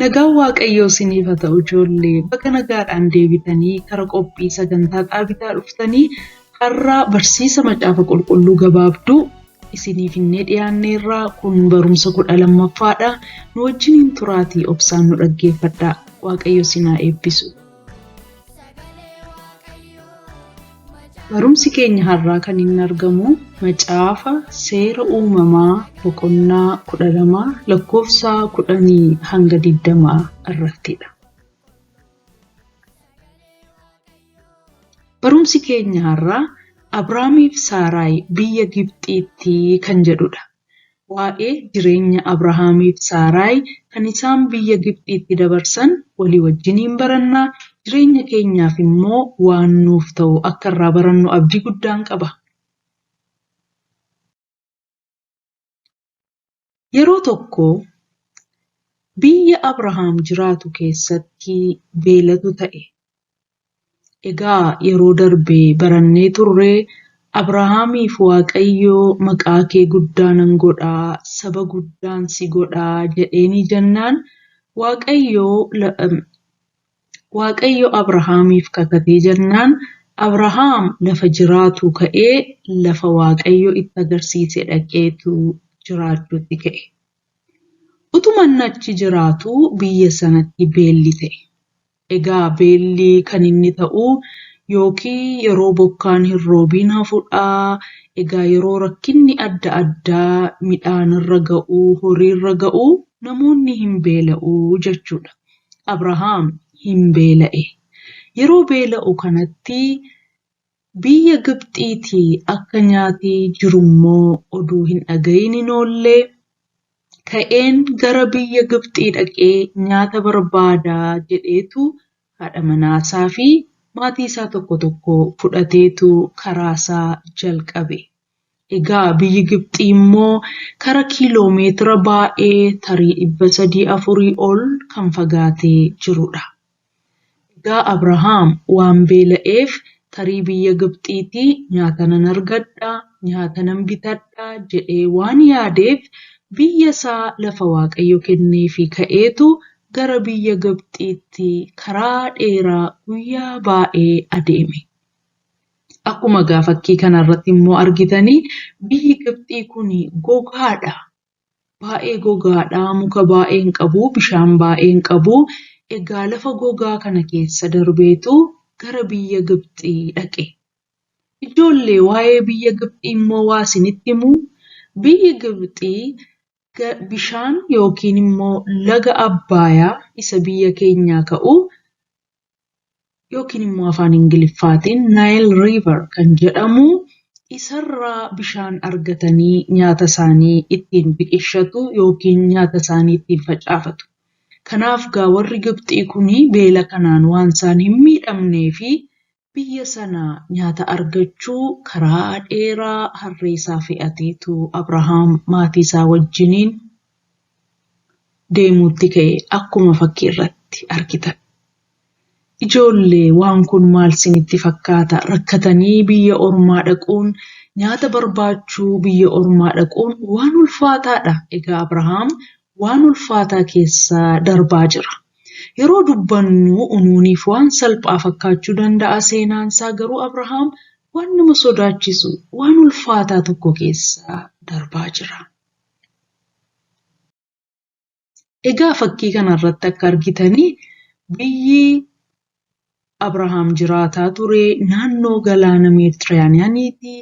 Nagaan Waaqayyoo isiniif haa ta'u ijoollee baga nagaadhaan deebitanii kara qophii sagantaa dhaabitaa dhuftanii har'aa barsiisa macaafa qulqulluu gabaabduu isiniif innee dhiyaanneerraa kun barumsa kudha lammaffaadha nu wajjiniin turaatii obsaan nu dhaggeeffadhaa Waaqayyo isin haa eebbisu. Barumsi keenya har'aa kan inni argamu macaafa seera uumamaa boqonnaa kudha lama lakkoofsa kudhanii hanga digdamaa irrattidha. Barumsi keenya har'aa Abrahaamiif Saaraay biyya Gibxiitti kan jedhudha. Waa'ee jireenya Abrahaamiif Saaraayi kan isaan biyya Gibxiitti dabarsan walii wajjiniin baranna, jireenya keenyaaf immoo waan nuuf ta'u akka irraa barannu abdii guddaan qaba. Yeroo tokko biyya Abrahaam jiraatu keessatti beelatu ta'e. Egaa yeroo darbe barannee turre Abrahaamiif Waaqayyo maqaa kee guddaa nan godha, saba guddaan si godha jedheenii jennaan Waaqayyo Waaqayyo Abrahaamiif kakatee jennaan Abrahaam lafa jiraatu ka'ee lafa Waaqayyo itti agarsiise dhaqeetu jiraachuutti ka'e. Utuma inni achi jiraatu biyya sanatti beelli ta'e. Egaa beelli kan inni ta'u yookiin yeroo bokkaan hin roobiin hafudha. Egaa yeroo rakkinni adda addaa midhaanirra ga'u, horiirra ga'u namoonni hin beela'u jechuudha. Abrahaam hin beela'e. Yeroo beela'u kanatti Biyya Gibxiitii akka nyaati jiru immoo oduu hin dhagayin hin oolle, ka'een gara biyya Gibxii dhaqee nyaata barbaada jedheetu haadha manaasaa fi maatiisaa tokko tokko fudhateetu karaasaa jalqabe. Egaa biyyi Gibxii immoo kara kiiloo meetira baay'ee tarii dhibba sadii afurii ol kan fagaatee jiru dha. Egaa Abrahaam waan beela'eef tarii biyya Gibxiitii nyaata nan argadha, nyaata nan bitadha jedhee waan yaadeef biyya isaa lafa Waaqayyo kenneefii ka'eetu gara biyya Gibxiitti karaa dheeraa guyyaa baay'ee adeeme. Akkuma egaa fakkii kanarratti immoo argitanii biyyi Gibxii kun gogaadha. Baay'ee gogaadha, muka baay'ee hin qabu, bishaan baay'ee hin qabu. Egaa lafa gogaa kana keessa darbeetu gara biyya Gibxii dhaqe. Ijoollee waa'ee biyya Gibxii immoo waa isinitti himu, biyyi Gibxii bishaan yookiin immoo laga Abbaayaa isa biyya keenyaa ka'u yookiin immoo afaan Ingiliffaatiin Nile River kan jedhamu isarraa bishaan argatanii nyaata isaanii ittiin biqilchatu yookiin nyaata isaanii ittiin facaafatu. Kanaaf gaa warri Gibxii kun beela kanaan waan isaan hin miidhamnee fi biyya sana nyaata argachuu karaa dheeraa harree isaa fe'ateetu Abrahaam maatii isaa wajjiniin deemuutti ka'e akkuma fakkii irratti argitan. Ijoollee waan kun maal sinitti fakkaata rakkatanii biyya ormaa dhaquun nyaata barbaachuu biyya ormaa dhaquun waan ulfaataadha egaa Abrahaam waan ulfaataa keessa darbaa jira. Yeroo dubbannu unuuniif waan salphaa fakkaachuu danda'a seenaansaa garuu Abrahaam waan nama sodaachisu waan ulfaataa tokko keessa darbaa jira. Egaa fakkii kana irratti akka argitanii biyyi Abrahaam jiraataa ture naannoo galaana Meeditiraaniyaaniiti.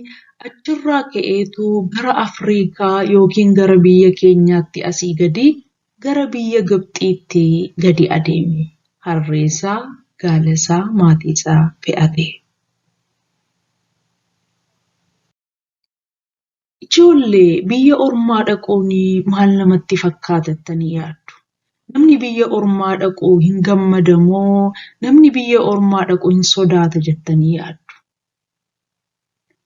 Achirraa ka'eetu gara Afriikaa yookiin gara biyya keenyaatti asii gadi gara biyya Gibxiitti gadi adeeme. Harreesaa, gaalasaa, maatiisaa fe'atee. Ijoolle biyya ormaa dhaquun maal namatti fakkaata jettanii yaaddu? Namni biyya ormaa dhaqu hin gammada moo namni biyya ormaa dhaqu hin sodaata jettanii yaaddu?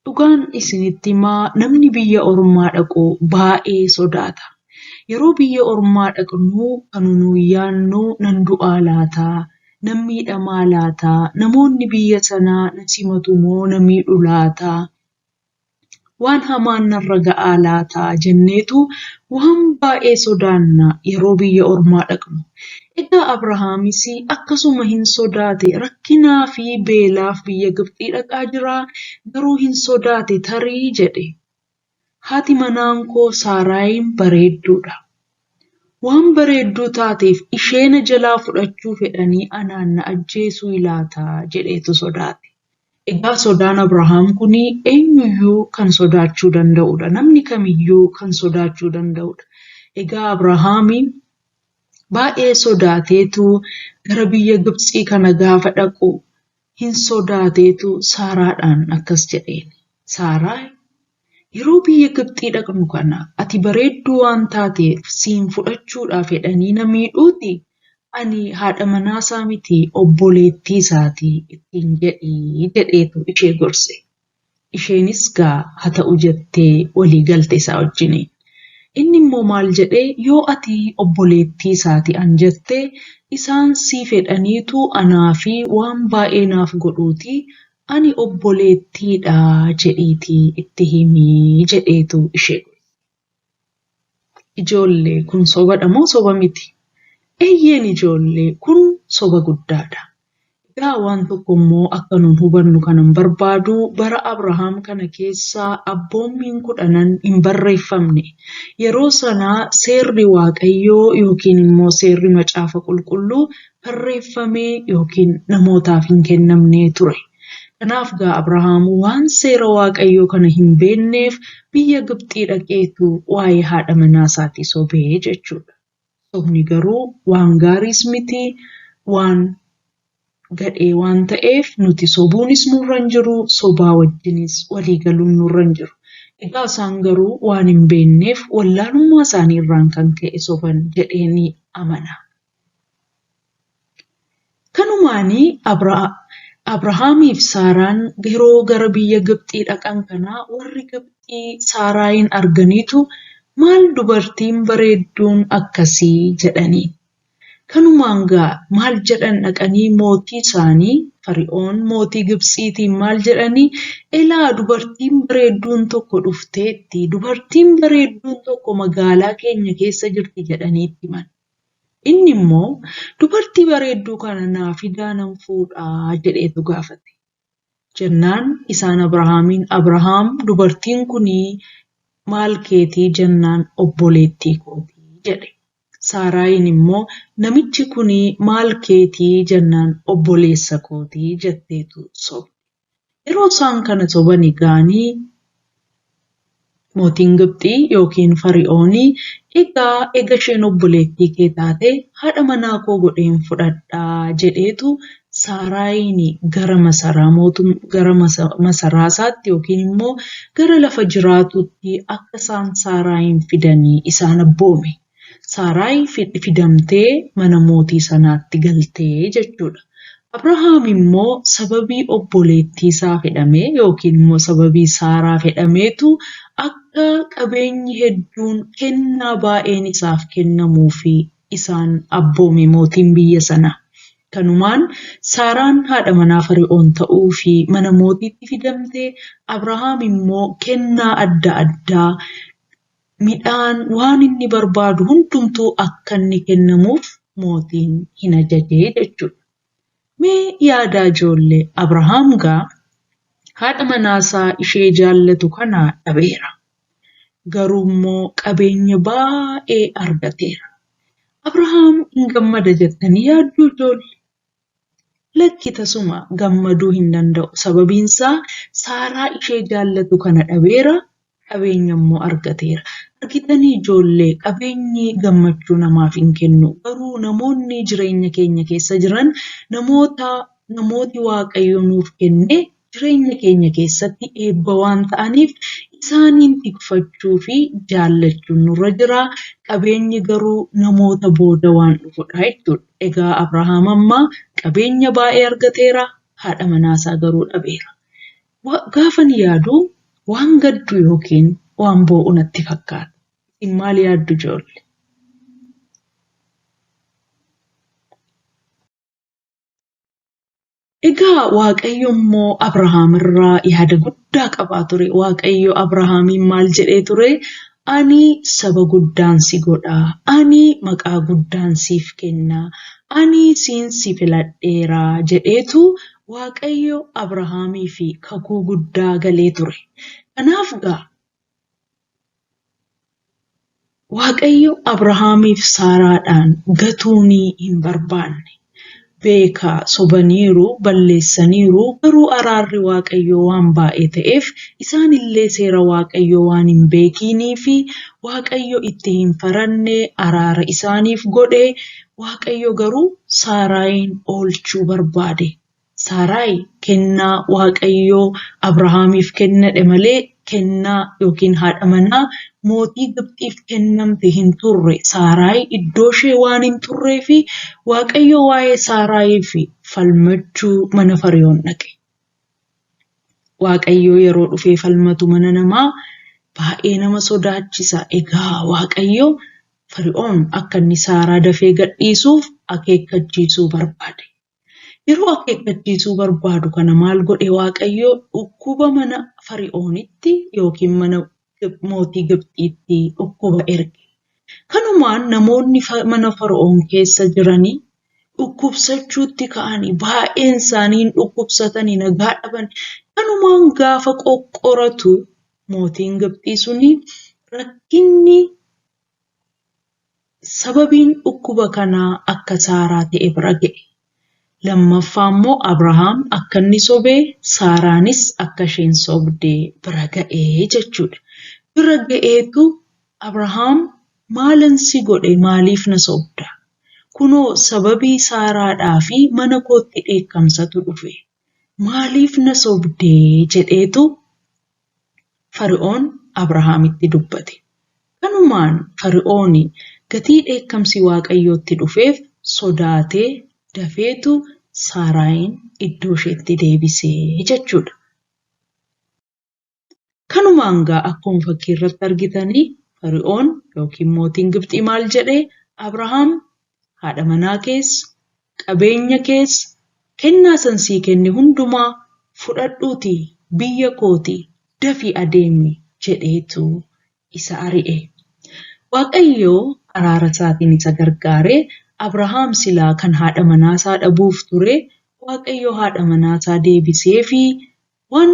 Dhugaan isinitti himaa namni biyya ormaa dhaqu baay'ee sodaata. Yeroo biyya ormaa dhaqnu kan nuyi yaadnu nan du'aa laata? Nan miidhamaa laata? Namoonni biyya sanaa na simatu moo na miidhu laata? Waan hamaan narra ga'aa laata jenneetu waan baay'ee sodaanna yeroo biyya ormaa dhaqnu. Egaa Abrahaamis akkasuma hin sodaate rakkinaa fi beelaaf biyya Gibxii dhaqaa jira garuu hin sodaate tarii jedhe. Haati manaan koo Saaraayiin bareedduudha. Waan bareedduu taateef ishee na jalaa fudhachuu fedhanii anaan na ajjeesuu laata jedheetu sodaate. Egaa sodaan Abrahaam kun eenyuyyuu kan sodaachuu danda'udha. Namni kamiyyuu kan sodaachuu danda'udha. Egaa Abrahaam baay'ee sodaateetu gara biyya Gibtsii kana gaafa dhaqu hin sodaateetu Saaraadhaan akkas jedheen. Saaraa Yeroo biyya Gibxii dhaqnu kana ati bareedduu waan taateef siin fudhachuudhaaf jedhanii na miidhuutii? Ani haadha manaa isaa miti obboleettii isaati ittiin jedhi jedheetu ishee gorse. Isheenis gaa ha ta'u jettee walii galte isaa wajjiniin. Inni immoo maal jedhee yoo ati obboleettii isaati an jette isaan siif jedhaniitu anaa fi waan baay'ee naaf godhuutii Ani obboleettii dha jedhiitii itti himi jedheetu ishee godhe. Ijoollee kun sobadha moo soba miti? Eeyyeen ijoollee kun soba guddaadha. Egaa waan tokko immoo akka nun hubannu kanan barbaadu bara Abrahaam kana keessa abboommiin kudhanan hin barreeffamne. Yeroo sana seerri Waaqayyoo yookiin immoo seerri macaafa qulqulluu barreeffamee yookiin namootaaf hin kennamne ture. Kanaaf gaa Abrahaam waan seera Waaqayyoo kana hin beekneef biyya Gibxii dhaqeetu waa'ee haadha manaa isaatii sobee jechuudha. Sobni garuu waan gaariis miti waan gadhee waan ta'eef nuti sobuunis nurra hin jiru sobaa wajjinis walii galuun nurra hin jiru. Egaa isaan garuu waan hin beekneef wallaalummaa isaanii irraan kan ka'e soban jedhee ni amana. Kanumaan Abrahaamiif Saaraan yeroo gara biyya Gibxii dhaqan kana warri Gibxii Saaraayiin arganiitu maal dubartiin bareedduun akkasii jedhaniin. Kanumaan gaa maal jedhan dhaqanii mootii isaanii Fari'oon mootii Gibtsiitiin maal jedhanii elaa dubartiin bareedduun tokko dhufteetti dubartiin bareedduun tokko magaalaa keenya keessa jirti jedhanii itti himan. Inni immoo, Dubartii bareedduu kana naa fidaa nan fuudha jedheetu gaafate. Jennaan isaan Abrahaamiin, Abrahaam dubartiin kun maal keeti jennaan obboleettii kooti jedhe. Saaraayiin immoo, Namichi kun maal keeti jennaan obboleessa kooti jetteetu sobde. Yeroo isaan kana sobani ga'ani mootiin Gibxii yookiin Fari'ooni, Egaa ega isheen obboleettii kee taate haadha manaa koo godheen fudhadha jedheetu Saaraayiini gara masaraa mootum gara masaraa isaatti yookiin immoo gara lafa jiraatuutti akka isaan Saaraayiin fidani isaan abboome. Saaraayi fidamtee mana mootii sanaatti galte jechuudha. Abrahaam immoo sababii obboleettiisaa fidhamee yookiin immoo sababii Saaraa fidhameetu akka qabeenyi hedduun kennaa baay'een isaaf kennamuufi isaan abboome mootiin biyya sanaa. Kanumaan Saaraan haadha manaa Fari'oon ta'uufi mana mootiitti fidamte, Abrahaam immoo kennaa adda addaa midhaan waan inni barbaadu hundumtuu akka inni kennamuuf mootiin hin ajajee jechuudha. Mee yaadaa ijoolle Abrahaam gaa haadha manaasaa ishee jaallatu kana dhabeera. Garuu immoo qabeenya baay'ee argateera. Abrahaam hin gammada jettanii yaadduu ijoolle? Lakki tasuma gammaduu hin danda'u, sababiin isaa Saaraa ishee jaallatu kana dhabeera, qabeenya immoo argateera. Argitanii ijoollee, qabeenyi gammachuu namaaf hin kennu, garuu namoonni jireenya keenya keessa jiran namoota namooti Waaqayyo nuuf kenne jireenya keenya keessatti eebba waan ta'aniif isaaniin tikfachuu fi jaallachuun nurra jira. Qabeenyi garuu namoota booda waan dhufudha jechuudha. Egaa Abrahaam amma qabeenya baay'ee argateera, haadha manaasaa garuu dhabeera. Wa- Gaafan yaadu waan gaddu yookiin waan boo'u natti fakkaata. Isin maal yaaddu ijoolle? Egaa Waaqayyo immoo Abrahaam irraa yaada guddaa qabaa ture. Waaqayyo Abrahaamiin maal jedhee ture? Ani saba guddaan si godha. Ani maqaa guddaan siif kenna. Ani siin si filadheera jedheetu Waaqayyo Abrahaamii fi kakuu guddaa galee ture. Kanaaf gaa Waaqayyo Abrahaamiif Saaraadhaan gatuunii hin barbaanne. Beeka sobaniiru, balleessaniiru, garuu araarri Waaqayyoo waan baay'ee ta'eef isaan illee seera Waaqayyoo waan hin beekiinii fi Waaqayyo itti hin faranne araara isaaniif godhe, Waaqayyo garuu Saaraayiin oolchuu barbaade. Saaraayi kennaa Waaqayyo Abrahaamiif kennadhe malee kennaa ykn haadha manaa mootii Gibxiif kennamte hin turre. Saaraayi iddooshee waan hin turreef Waaqayyo waa'ee Saaraayiif falmachuu mana Fari'oon dhaqe. Waaqayyo yeroo dhufee falmatu mana namaa baay'ee nama sodaachisa. Egaa Waaqayyo Fari'oon akka inni Saaraa dafee gadhiisuuf akeekkachiisuu barbaade. Yeroo akeekkachiisuu barbaadu kana maal godhe Waaqayyo? Dhukkuba mana Fari'oonitti yookiin mana mootii Gibxiitti dhukkuba erge. Kanumaan namoonni mana Fara'oon keessa jiranii dhukkubsachuutti ka'anii baay'een isaanii hin dhukkubsatanii nagaa dhaban. Kanumaan gaafa qoqqoratu mootiin Gibxii suni rakkinni Sababiin dhukkuba kanaa akka Saaraa ta'e bira ga'e. Lammaffaa immoo Abrahaam akka inni sobe, Saaraanis akka isheen sobde bira ga'e jechuudha. Bira ga'eetu Abrahaam maalan si godhe maaliif na sobda? Kunoo sababii Saaraadhaa fi mana kootti dheekkamsatu dhufe. Maaliif na sobde? jedheetu Fari'oon Abrahaamitti dubbate. Kanumaan Fari'oon gatii dheekkamsi Waaqayyootti dhufeef sodaatee dafeetu Saaraayiin iddoosheetti deebise jechuudha. Kanumaan gaa akkuma fakkii irratti argitanii Fari'oon yookiin mootiin Gibxii maal jedhe Abrahaam haadha manaa kees, qabeenya kees, kennaa san sii kenne hundumaa fudhadhuutii biyya kooti dafii adeemi jedheetu isa ari'e. Waaqayyo araara isaatiin isa gargaare Abrahaam silaa kan haadha manaa isaa dhabuuf ture Waaqayyo haadha manaa isaa deebiseefii Waan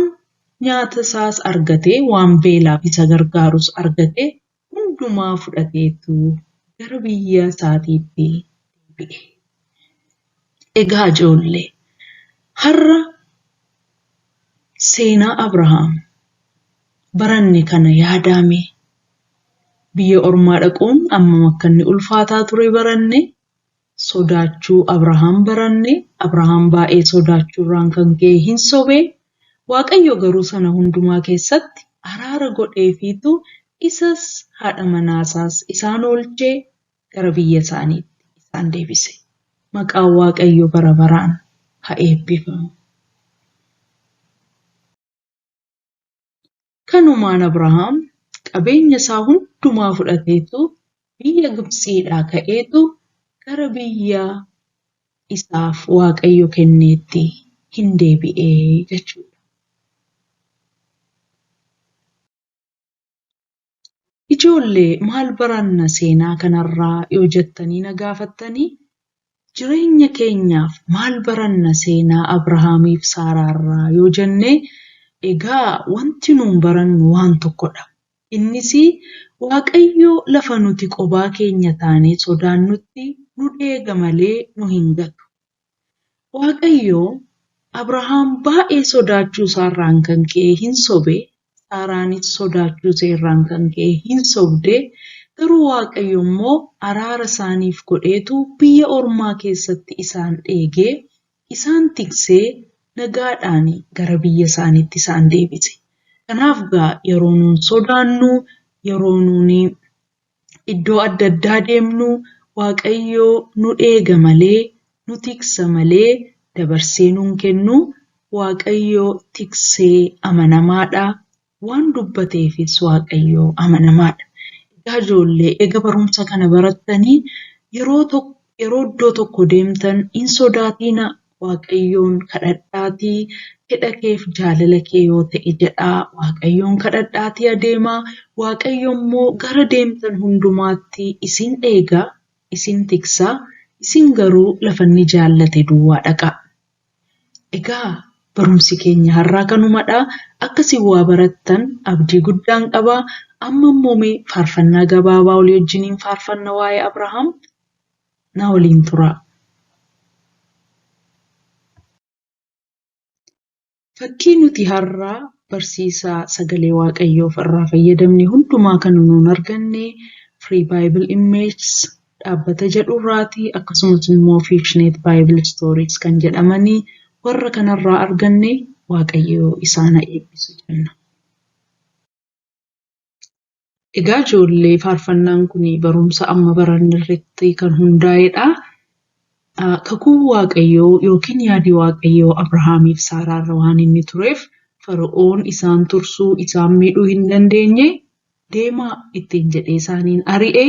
nyaata isaas argatee, waan beelaaf isa gargaarus argate hundumaa fudhateetu gara biyya isaatiitti deebi'e. Egaa ijoollee, har'a seenaa Abrahaam baranne kana yaadaa mee. Biyya ormaa dhaquun ammam akka inni ulfaataa ture baranne, sodaachuu Abrahaam baranne, Abrahaam baay'ee sodaachuurraan kan ka'e hin sobe, Waaqayyo garuu sana hundumaa keessatti araara godheefiitu isas haadha manaasaas isaan oolchee gara biyya isaaniitti isaan deebise. Maqaan Waaqayyo bara baraan ha eebbifamu. Kanumaan Abrahaam qabeenya isaa hundumaa fudhateetu biyya Gibtsiidhaa ka'eetu gara biyya isaaf Waaqayyo kenneetti hin deebi'e jechuudha. Ijoolle maal baranna seenaa kanarraa yoo jettanii na gaafattanii jireenya keenyaaf maal baranna seenaa Abrahaamiif Saaraarraa yoo jennee egaa wanti nuun barannu waan tokkodha. Innis Waaqayyo lafa nuti qobaa keenya taanee sodaannutti nu deega malee nu hin gatu. Waaqayyo Abrahaam baay'ee sodaachuu isaarraan kan ka'e hin sobe, Saaraanis sodaachuu ishee irraan kan ka'e hin sobde, garuu Waaqayyo immoo araara isaaniif godheetu biyya ormaa keessatti isaan eegee, isaan tiksee nagaadhaan gara biyya isaaniitti isaan deebise. Kanaaf gaa yeroo nuun sodaannu, yeroo nuun iddoo adda addaa deemnu waaqayyoo nu eega malee nu tiksa malee dabarsee nuun kennu waaqayyoo tiksee amanamaadha waan dubbateefis waaqayyoo amanamaadha. Egaa ijoollee ega barumsa kana barattanii yeroo tokko yeroo iddoo tokko deemtan hin sodaatiina Waaqayyoon kadhadhaatii hidha keef jaalala kee yoo ta'e jedhaa Waaqayyoon kadhadhaatii adeemaa Waaqayyo immoo gara deemtan hundumaatti isin eega isin tiksa isin garuu lafa inni jaallate duwwaa dhaqa. Egaa barumsi keenya har'aa kanumadha akka isin waa barattan abdii guddaan qaba amma immoo mee faarfannaa gabaabaa olii wajjiniin faarfanna waa'ee Abrahaam. Na waliin turaa. Fakkii nuti har'a barsiisa sagalee waaqayyoof irraa fayyadamne hundumaa kan nuun arganne Free Bible Images dhaabbata jedhu irraati akkasumas immoo Fictionate Bible Stories kan jedhamanii warra kanarraa arganne waaqayyoo isaana eebbisu jenna. Egaa ijoollee faarfannaan kun barumsa amma baranne irratti kan hundaa'edha. Kakuun Waaqayyoo yookiin yaadi Waaqayyoo Abrahaamiif Saaraarra waan inni tureef Fara'oon isaan tursuu, isaan miidhuu hin dandeenye, deemaa ittiin jedhee isaaniin ari'e,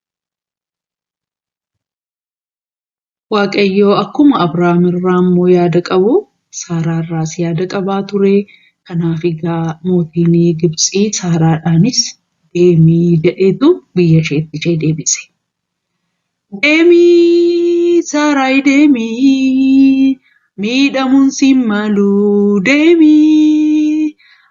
Waaqayyo akkuma Abrahaam irraa immoo yaada qabu Saaraa irraas yaada qabaa ture. Kanaaf egaa mootiin Gibtsii Saaraadhaanis deemii jedheetu biyya isheetti ishee deebise. Deemii Saaraayi deemii miidhamuun siin malu deemii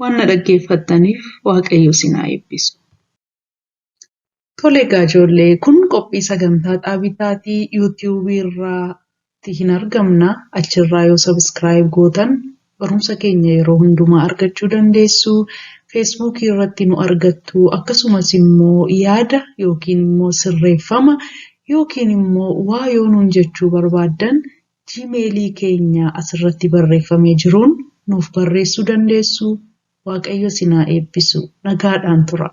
Waan na dhaggeeffattaniif Waaqayyo isin haa eebbisu. Tole egaa ijoollee kun qophii sagantaa dhaabitaati yuutiyuubii irraatti hin argamna achirraa yoo sabiskiraayib gootan barumsa keenya yeroo hundumaa argachuu dandeessu feesbuukii irratti nu argattu akkasumas immoo yaada yookiin immoo sirreeffama yookiin immoo waa yoo nuun jechuu barbaaddan Gmail keenya asirratti barreeffamee jiruun nuuf barreessuu dandeessu. Waaqayyo isin haa eebbisu. Nagaadhaan turaa.